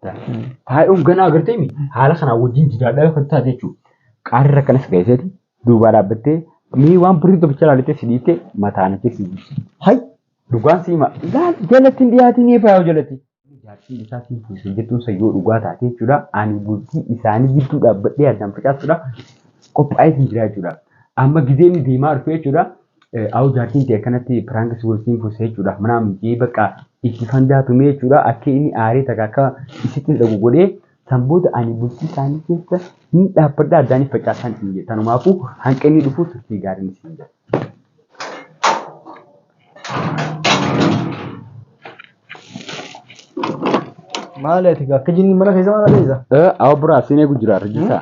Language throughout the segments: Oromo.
Taa'ee hoogganaa agartee mi? Haala kanaa wajjin jidaadhaa kan taate jechuudha. Qaarri rakkanas gaheeseeti duubaa dhaabbattee mee waan birrii tokkicha ilaaltee si dhiittee mataa na keessi jirti. Hay dhugaan si hima laal jalatti hin dhiyaatiin eebaa yoo jalatti. Jaartiin isaa siin fuusee jettuun san yoo dhugaa taate jechuudha. Ani bultii isaanii gidduu dhaabbadhee addaan facaasuudha. Qophaa'ee hin jira jechuudha. Amma gizeen deemaa dhufe jechuudha. Awu jaartiin tee akkanatti piraanki si wajjin fuusee jechuudha. Manaa miti bakka itti fandaa tumee jechuudha. Akka inni aaree takka akka isitti dhagu godhee san booda ani bultii isaanii keessa ni dhaabbadha addaanis facaasaan isin jedhe. Tanumaafuu hanqa inni dhufu turtii gaariin isin jedhe. Maali ati akka jinni mana keessa maal adeemsa? Awa biraa seenee gujjiraa rajjisaa.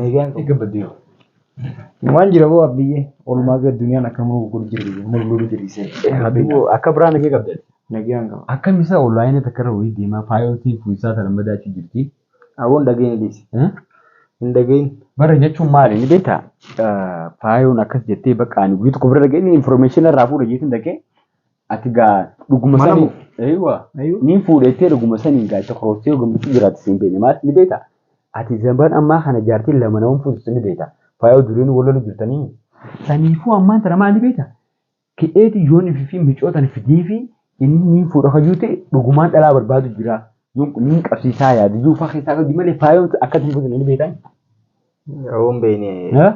Nagaan kee gabbadde yoo. Waan jira boo abbiyyee oolmaa gad duniyaan akka muruu godhu jira biyya muruu godhu dhiisee. Abbiyyoo akka biraa nagee qabda. Nagaan qaba. Akkam isaa oonlaayinii takka irra wayii deemaa faayoltiin fuuyisaa sana madaachuu jirti. Aboon dhageen dhiisi. Hin dhageen. Bara jechuun maali ni beektaa? Faayoon akkas jettee bakka ani guyyaa tokko bira dhagee inni information irraa fuudha jeetiin dhagee Ati gaa dhuguma Mana sanii. moo? Eeywa. Ayuu. Niin fuudhettee dhuguma sanii gaa itti korooftee yoo gammachuu jiraatti siin beekne maal ni beekta. Ati zamban ammaa kana jaartiin lama nama fuusisu ni beekta. Faayoo duriin wal lolu jirtanii. Saniifuu ammaan tana maal ni beekta. Ka'eeti yoon ifi fi micoo tana fidee fi inni niin fuudha kayyuu ta'e dhugumaan dhalaa barbaadu jira. Yoon niin qabsiisaa yaadu iyyuu faa keessaa qabdi malee faayoon akka itti hin fuudhine ni beektaa. Awuun beekne. Haa?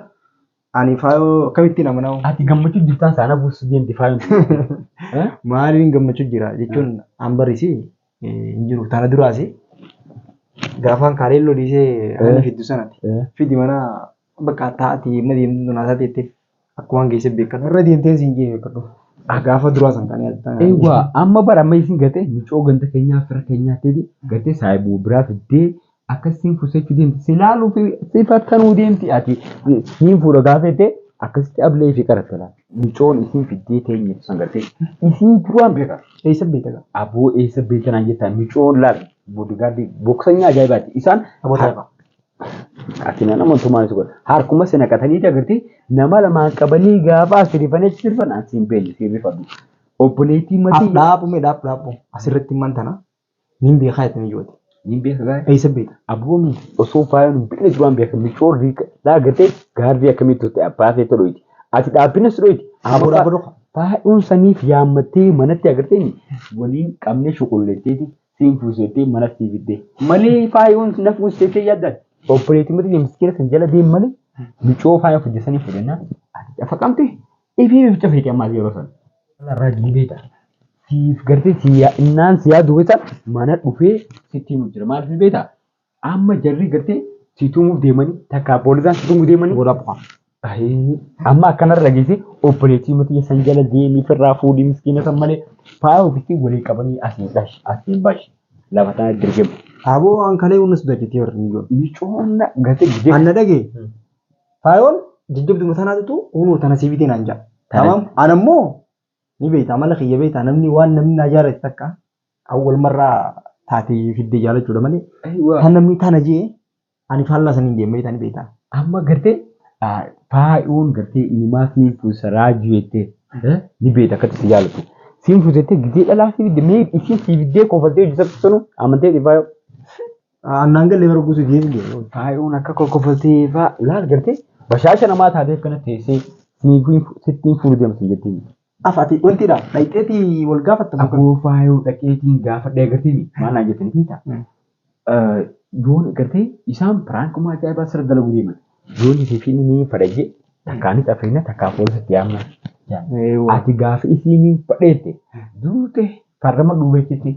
Ani faayoo akkamittiin amanaa? Ati gammachuu jirtaan saana buusu deemti faayoo. Maaliin gammachuu jira jechuun an barisi hin jiru. Tana duraasi gaafaan kaaleen loliisee hanni fiddu sanati. Fidi mana bakka taa'ati mana deemtu tunaa isaa teetteef akkumaan geesse beekadhu. Irra deemteen siin jee beekadhu. Gaafa duraa san kan yaadatan. Eewwa amma bara amma isin gate micoo ganda keenyaa fira keenyaa teeti gate saayibu biraa fiddee akkasiin fusechu deemti silaalu si fattanuu deemti ati niin fuudha gaafete akkasitti ablee fi qaratte laal. Micoon isiin fiddee teenyetu san gartee isiin duraan beeka eessa beeka gaa aboo eessa beeka naan jettaa micoon laal boodigaardii boksanya ajaa'ibaati isaan ati na nama tumaan isu godha harkuma si naqatanii agartee nama lamaan qabanii gaafa as rifanii achi sirban as hin beekne si rifadhu obboleettii matii. Dhaabumee dhaab dhaabu asirratti himan tana. Niin beekaa jettanii joote. Niin beeka gaa'e. Eessa beekta? Aboo min osoo faayoon hin beekne duraan beeka micoon riika laa gartee gaarrii akkamii turte abbaa keessa dhoyti. Ati dhaabbinas dhoyti. Aboo dhaabba dhoka. Faayoon saniif yaammattee manatti agartee waliin qabnee shuqulleetteeti siin fuuseettee mana sii fiddee. Malee faayoon na fuuseettee yaaddan. Obboleetii mata miskiina san jala deem malee micoo faayoo fidde sanii fudhannaa ati dhafa qabde Ifii bif cufeeti ammaas yeroo san. Irraa jiibeeta. Siif gartee si yaa- innaan si yaadu beekta mana dhufee sitti himu jira. Maal fi beekta? Amma jarri gartee si tumuuf deemanii takka poolisaan si tumuu deemanii. Gola qofa. Ayii, Amma akkanarra dhageessee obboleettii matii san jala deemii firraa fuudhii miskiina san malee faaya ofitti walii qabanii asiin dhash asiin bash lafa tana dirgemu. Aboo an kalee hundas dajjatee warri mijoon. Micoonna gartee gidee. Anna dhagee. Faayoon jajjabduma tanaatutu kunoo tana sii bitee naan ja'a. Tana- Tamam ana immoo ni beekta amala kiyya beekta namni waan namni naa jaalate takka kan wal marraa taate fidde jaalachuudha malee Aywa. kan namni tana jee ani faallaa saniin deema jetaa ni beekta. Amma gartee ah, faayoon gartee inimaa siin fuusa raajuu jettee eh, ni beekta akkatti si jaalatu. Siin fuusa jettee gizee dhalaa sii fidde mee isiin sii fiddee kofaltee hojjetattu sanu amantee si faayoo. Aannan galee bara guutuu geessu. Faayoon akka kokkofaltee faa laal gartee bashaasha namaa taatee akkana teessee sittiin fuudhu deemtu jettiin. Afati wanti dha dhayxeeti wal gaafatta. Aboo faayoo dhaqeetiin gaafadhee gartee maal naan jettanii fiita. Yoon gartee isaan piraankumaa ajaa'ibaa sirra dalaguu deeman. Yoon isii fi inni fadhajee takkaa ni xafeena takkaa poolisitti yaamna. Ati gaafa isiin fadheette duute farrama dhuubeetti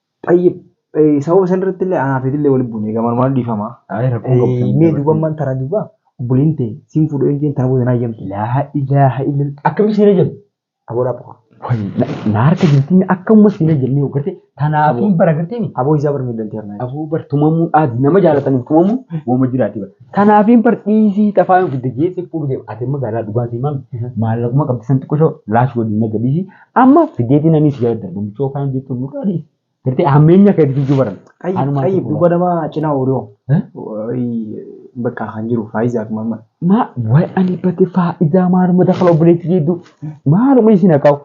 Tayyib sababa san irratti illee anaa feetillee wali buune gamaan waan dhiifamaa. Ayi rakkoon qabu san Mee duuba ammaan tana duuba obboleen tee siin fuudhu yoon jeen tana booda naa yamtu. Laa ilaaha illal akkami siina jennu. Aboo dhaabba koo. Wayi na harka jirti mi akka umma siina jennee ogarte tanaafiin bara gartee mi. Aboo isaa bar miidhanti harnaa. Aboo bar tumamuun aadi nama jaalataniif tumamuun woma jiraati bar. Tanaafiin bar dhiisii xafaa yoon fidde jeesse fuudhu deema ati amma gaaraa dhugaa sii maami maallaquma qabdi san xiqqo shoo laash godhi naga dhiisii Amma fideetiin ani si yaadda namicha ofaan jettu nurraa dhiisi. Gartee hammeenya akka itti jiru baran. Qayyib Haanumaan qayyib tokko duuba nama cinaa ooluu. Eh? Bakka kan jiru faayiza akkuma amma. Maa waa'ee ani bate faayidaa maaluma dakala obboleetti jedhu maaluma isin haqaa'u.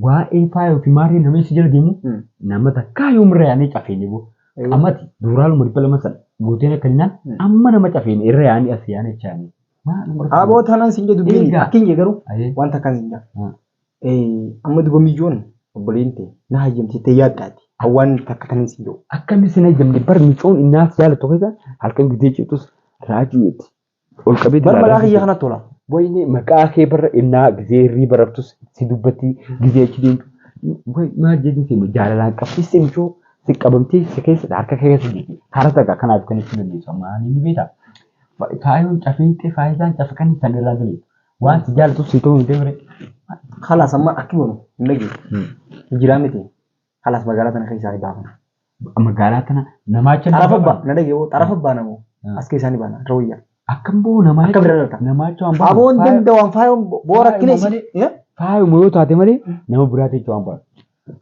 Waa'ee faaya yookiin maarree nama isin jala deemu Hmm. nama takkaa yoomree ani cafeeni boo. Amati duuraaluma dhibba lama sana guuteen akka hinnaan Hmm. amma nama cafeeni irra yaa'anii as yaa'anii achi yaa'anii. Maaluma Aboo tanan sin jedhu Eegaa. dubbiin akkin jee garuu Ayee. wanta kan sin jedhu. Amma duba miicoon obboleen tee na hayyamti jettee yaadda ati. Hawwaan takka kanin si jedhu. Akkamitti sin hayyamne bar miicoon innaa si jaalattu keessa halkan gidee citus raajuu itti ol qabee Bar malaa kiyya kana tola. Wayne maqaa kee barra innaa gizee hirriiba raftus si dubbatti gizee achi deemtu. Maal jedhu seema jaalalaan qabsiiste michoo si qabamtee si keessa harka kee keessa jirti. Karaa takka kanaaf kan itti dandeessu amma ani ni beektaa. Faayoon cafeentee faayidaan cafa kan isaan irraa daleessu. Waan si jaalatu si ta'uu hin deemre. Kalaas amma akki boonu hin dhageessu. Jiraa miti. Kalaas magaalaa tana keessaa ni baafna. Magaalaa tana namaa achi Xarafa baa na dhageewoo xarafa baa namoo as keessaa ni baana rawayyaa. Akkam boo namaa Akka bira dhalata. namaa achi waan baafna. Aboon danda'uun faayoon boo rakkina Faayuma malee. isi. Faayuma yoo taate malee nama biraati achi waan baafna.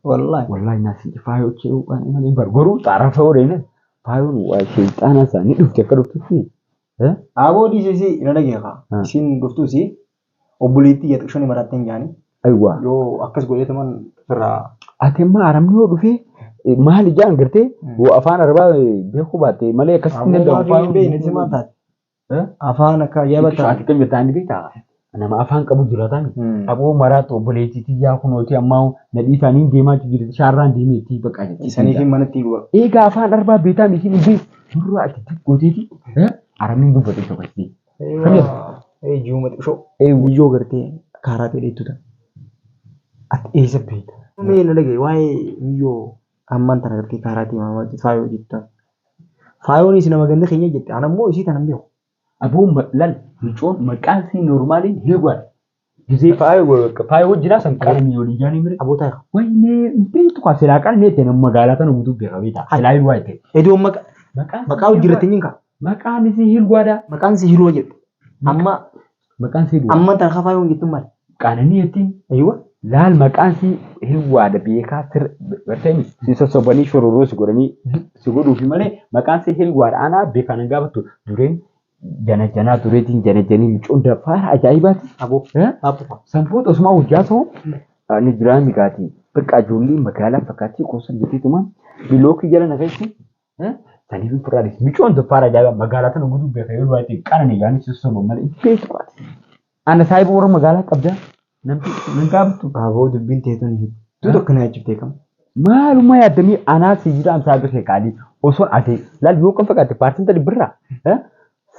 Wallaahi. Wallaahi naa si faayoo achi waan malee hin baru. Garuu xarafa yoo deemne faayoon waa sheexaanaa isaa ni dhufti akka dhuftutti Eh? Aaboo dhiisisi na dhagee kaa. Ah. Isiin dhuftuusi obboleettii yaa xiqqishoon maraatteen jaanii. Aywa. Yoo akkas godheetuman firraa. Ati amma arabni yoo dhufe eh, maal ijaan gartee Mm. yoo afaan arabaa eh, beekuu baatte malee akkasitti hin Aaboo danda'amu. maafii hin beekne si maal taate? Eh? Afaan akka ajaa'ibaa Ati taate. kan jirtu ani beektaa? nama afaan qabu jiratan Mm. aboo maraatu obboleettii tiyyaa kunooti ammaa nadhii isaanii deemaa jirti shaarraan deemeetti baqaa jirti. Isaniif hin manatti guba. Eegaa afaan arbaa beetaa miti dhibbi durra ati xiqqooteeti aramiin dubbate tokkotti. Kamiif? Ee ji'uma xiqqoo. Ee guyyoo gartee kaaraa ta'e dheettu ta'a. Ati eessa beekta? Mee na dhagaye waa'ee miyyoo ammaan tana gartee kaaraa ta'e maamaa faayoo jettu ta'a. Faayoonis nama ganda keenya jette. Ana immoo isii tana hin beeku. Aboo lal micoon maqaan sii normaaliin hin waay gizee faaya hojjinaa san qalamii olii jaanii mire aboo taayika waynee hin beektu kaa silaa qal neete nam magaalaa tana guutuu beeka beeta silaa hin waay ta'e edoon maqa maqaa hojjirratti hin kaa maqaan isii hin waadaa maqaan isii hin wajedhu amma Maqaan sii duwaa. Amman tan kafaa yoon jettu mal. Qaananii jettiin. Aywa. Laal maqaan sii hiwwaadha beekaa sir bartanii si sossobanii shororoo si godhanii si godhuufi malee maqaan sii hiwwaadha anaa beekaa nan gaafattu dureen janajanaa dureetiin janajanii micoon faara ajaa'ibaati. Aboo. Abbo. Sanfuut osumaa hojjaa soo ni jiraa migaatii bakka ajoollee magaalaa fakkaatii koosan jeteetuma bilookii jala na keessi Eh, Sanii fi furraa dhisi. Micoon doppaara ajaa'ibaa magaalaa tana guduu beeka yoo du'aa ittiin qaranii gaanii si sosoban malee itti beektu qaati. Ana saahiba warra magaalaa qabdaa namti nan gaafattu. Aboo dubbiin teetun hedduu tokko na jechuuf teekama. Maalummaa yaaddamee anaa si jiraan saahiba kee qaalii osoo ati laal yoo kan fakkaate paartiin tadi birraa eh,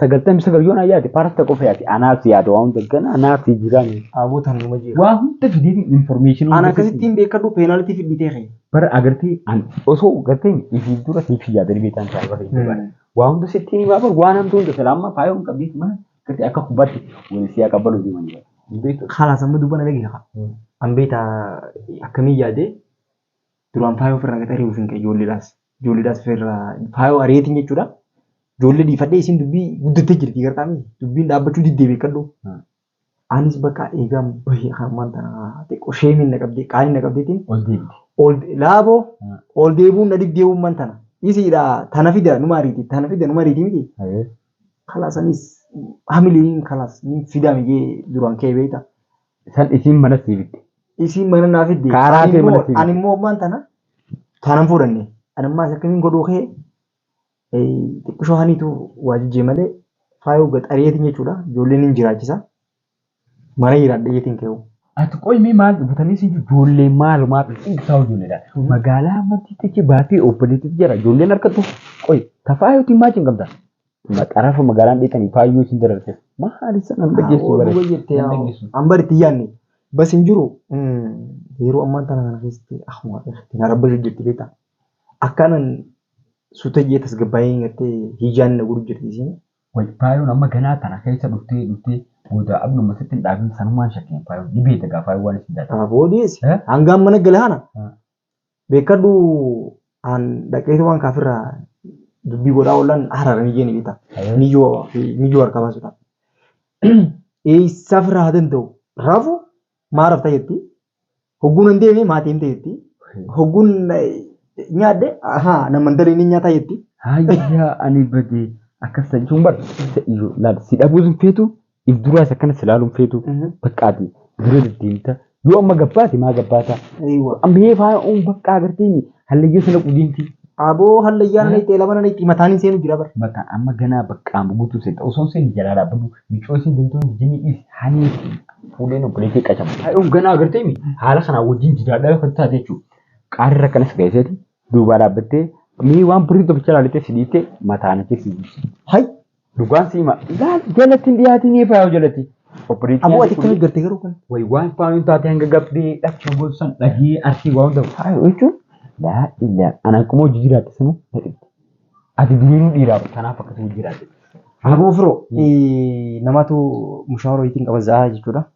sagaltamii sagal yoon ayyaate paarta qofa yaate anaaf yaada waan daggan anaaf jiraame dhaabota numa jira. Waa hunda fideetiin information Ana akkasittiin beekadhu peenaalitii fidhitee kee. Bara agartee an osoo gartee ifi dura siif yaadanii beekan ta'a bara itti bara. Waa hunda sitti ni baafar waan hamtuu hunda salaamma faayoo hin qabdeetti mana gartee akka kubbaatti wal siyaa qabbalu deeman jira. Beektu. Khalas amma dubbana dhagee kha. An beekta akkamii yaadee Duraan faayoo ofirraa gad ari'uuf hin ka'e ijoolleedhaas. Ijoolleedhaas ofirraa faayoo ari'eetiin jechuudha. Ijoollee dhiifadhee isiin dubbii guddattee jirti gartaa miti. Dubbiin dhaabbachuu diddee beekadhu. Anis bakka eegaan bahee hammaan tana xiqqoo sheemiin na qabdee qaanii na qabdeetiin Ol deebite. ol laaboo Ah. ol deebuun na diddee uumman tana. Isiidha tana fida numa ariiti tana fida numa ariiti miti. Ayee. Kalaas anis hamileen kalaas ni fidaa miyyee duraan ka'ee beekta. San isiin mana sii fidde. Isiin mana naa fidde. Kaaraa kee mana sii fidde. Ani immoo ammaan tana taanan fuudhanne. Ani ammaa isa akkamiin godhuu kee xiqqishoo haniitu waa jijjee malee faayoo gaxariyeetiin jechuudha. Ijoolleen hin jiraachisa. Mana jiraadha jeetiin kee hoo. Ati qoy mee maal dhufatanii si ijoollee maalumaaf dhiibsaa ijoolleedha. Magaalaa amantii teche baatee obboleetti jira ijoolleen harkattu qoy tafaa yootiin maal hin qabda. Maxarafa magaalaan dhiitanii faayyuu isin dararteef. Maali san an dhageessu Oduu baree. wayyeettee An dhageessu. an bari itti yaanne bas hin jiru yeroo ammaan tana kana keessatti akkuma itti na rabbashu jirti beektaa akkaanan sutayyee tasgabbaa'ee gattee hiyyaan na godhu jirti isiin Way faayoon amma ganaa tana keessa dhuftee dhuftee booda abnuma sitti hin dhaabin sanumaan shakkeen faayoon ni beekta gaa faayoon waan isin taate. kana boodees Eh? hangaan mana galaana Eh. Beekkadhu aan dhaqeetumaan kaafirraa dubbii godhaa oolan harara ni jeeni beektaa. Niyyoo fi niyyoo harkaa baasuudhaaf. Eessaaf irraa haa danda'u? Raafu maa rafta jetti. Hogguun hin deeme maatii himte jetti. Hogguun nyaadhe ahaa namman dalee ni nyaataa jetti. Hayyaa ani badee akkas jechuun bar iyyuu laal si dhabuus hin feetu If duraas akkana si ilaaluun feetu baqqaati dura deddeemta yoo amma gabbaate maa gabbaata Eeywa. amma hee faana uun baqqaa agarteeni hallayyaa sana qudeemti Aboo hallayyaa nana itti elama nana itti mataan hin seenu jira bara. mataan amma ganaa baqqaa amma guutuu seenta osoo hin seeni jalaa dhaabbadhu micoo isin deemtuu hin jijjiinni dhiis hanii fuudheen obboleettii qacamu haadhuun ganaa agarteemi haala kanaa wajjin jiraadhaa kan taate jechuudha qaarri rakkanas gaheeseeti duubaa dhaabbattee mee waan birrii tokkicha ilaaltee si dhiiftee mataan achi si buusi. Hay Dhugaan si hima. Laal jalatti hin dhiyaatiin eebbaa yoo jalatti. Obboleettii Aboo ati akkamitti garte garuu kan. Way waan faayuun taate hanga gabbee dhaqna gosan dhagee arsii waan ta'u. Faayuu jechuun laa illaan ana akkuma hojii jiraatte sanuu na dhibde. Ati duriinuu dhiiraa kanaaf akkasuma jiraatte. Aboo firoo namatu mushaawara ittiin qaba za'aa jechuudha.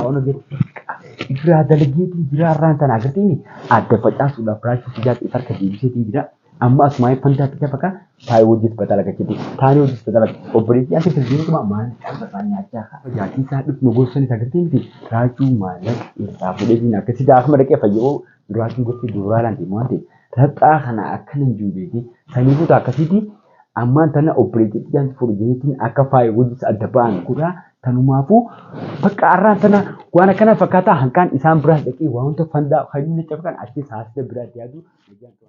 Haala jechuun irraa dalageetiin jiraa irraan tana agartanii adda facaasuudhaaf raachuu fidaatti isa harka deebiseetiin jira. Amma asumaa hin fandaatti lafa kaa taa'ee hojjetu batala gachite taa'ee hojjetu batala obboleettii ati firdiinuma maal isaa nyaachaa kaa jaatii isaa dhufnu gorsan isa agartee miti raachuu maallaqa irraa fudheetiin akka sidaa akkuma dhaqee fayyoo duraatiin gortee duuraa laante waan ta'e raxxaa kana akkana hin jiru beekee sanii kutaa akkasiitii Ammaan tana obboleettii xiyyaan fuudhe jeetiin akka faaya wajjis adda ba'an godhaa tanumaafuu bakka arraan tana waan akkana fakkaataa hanqaan isaan biraas dhaqee waanta fandaa hajuu na cabqan achiis haasida biraatti yaaduu nagaan turan.